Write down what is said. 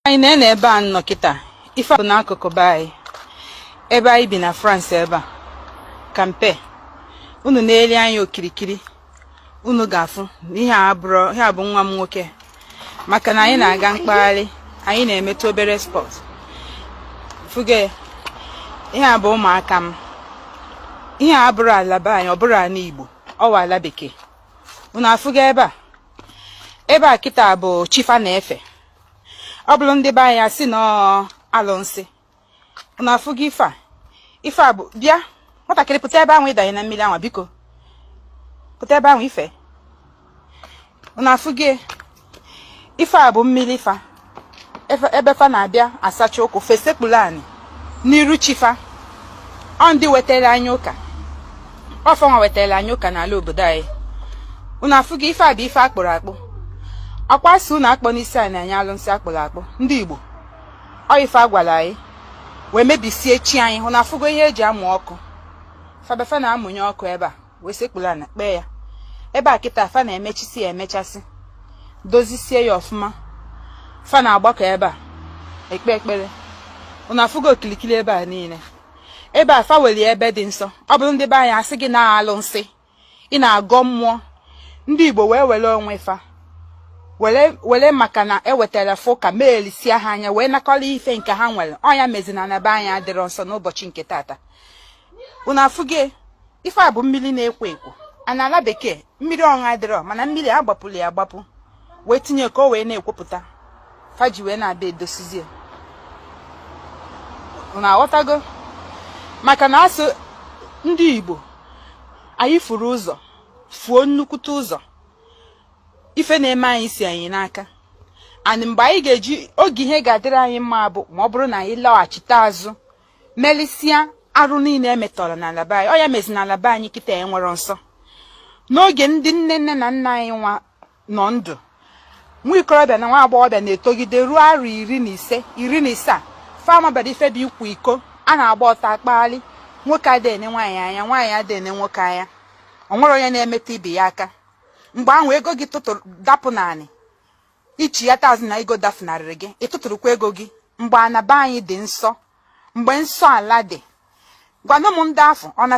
anyị na na ebe a nọ kịta ife dị n'akụkụ be anyị ebe anyị bi na France ebe a ka m bi unu nelie anya okirikiri unu ga-afụ na ihe a bụrụ ihe a bụ nwa m nwoke maka na anyị na-aga mkpagharị anyị na-emetụ obere sport fụga ihe a bụ ụmụaka m ihe a abụrọ ala be anyị ọ bụrọ ala Igbo ọ wụ ala bekee unu afụga ebe a ebe a kịta bụ chi fa na-efe ọ bụrụ ndị be anyị a sị na ọ alụnsị unu afụga ife a ife a bụ bịa nwatakịrị pụta ebe ahụ ị danye na mmiri anwa biko pụta ebe ahụ ife unu afụga ife a bụ mmiri fa ebe fa na-abịa asacha ụkwụ fesekpuru anị n'iru chi fa ọ ndị wetara anyị ụka ọ fa nwa wetara anyị ụka n'ala obodo anyị unu afụgo ife a bụ ife a kpụrụ akpụ ọ kwa a sị unu akpọna isi anị nye alụnsị a kpụrụ akpụ ndị igbo ọ ife a gwala anyị wee mebisie chi anyị unu afụgo ihe e ji amụ ọkụ fa bịa fa na-amụnye ọkụ ebe a wee sekpuru ana kpee ya ebe a kịta fa na-emechisi ya emechasị dozisie ya ọfụma fa na-agbakọ ebe a ekpe ekpere unu afụgo okilikili ebe a niile ebe a fa weli ebe dị nsọ ọ bụrụ ndị be anyị a sị gị na alụnsị ị na-agọ mmụọ ndị Igbo wee were onwe fa were maka na e wetara fa ụka meelisia ha anya wee nakọrọ ife nke ha nwere ọ nya mezi na ana be anyị adịrọ nsọ n'ụbọchị nke tata unu afụgo ife a bụ mmiri na-ekwo ekwo a n'ala bekee mmiri ọṅụ adịrọ mana mmiri a gbapụrụ ya agbapụ wee tinye ka o wee na-ekwopụta fa ji wee na-abịa edosizie unu aghọtago maka na a sị ndị Igbo anyị furu ụzọ fuo nnukwute ụzọ ife na-eme anyị si anyị n'aka and mgbe anyị ga-eji oge ihe ga-adịrị anyị mma bụ ma ọ bụrụ na anyị laghachite azụ melisia arụ niile e metọrọ n'ala be anyị ọ ya mezi na ala be anyị kịta enwerọ nsọ n'oge ndị nne nne na nna anyị nwa nọ ndụ nwa ikorobịa na nwa agbọghọbịa na-etogide ruo arọ iri na ise iri na isaa fa amabarọ ife bụ ịkwa iko a na-agba ọtọ akpagharị nwoke adị ene nwaanyị anya nwaanyị adị ene nwoke anya o nwerọ onye na-emetụ ibe ya aka mgbe ahụ ego gị tụtụrụ dapụ n'anị i chiata azụ na ego dafunarịrị gị ị tụtụrụkwa ego gị mgbe ana be anyị dị nsọ mgbe nsọ ala dị gwanụ m ndị afọ ọ na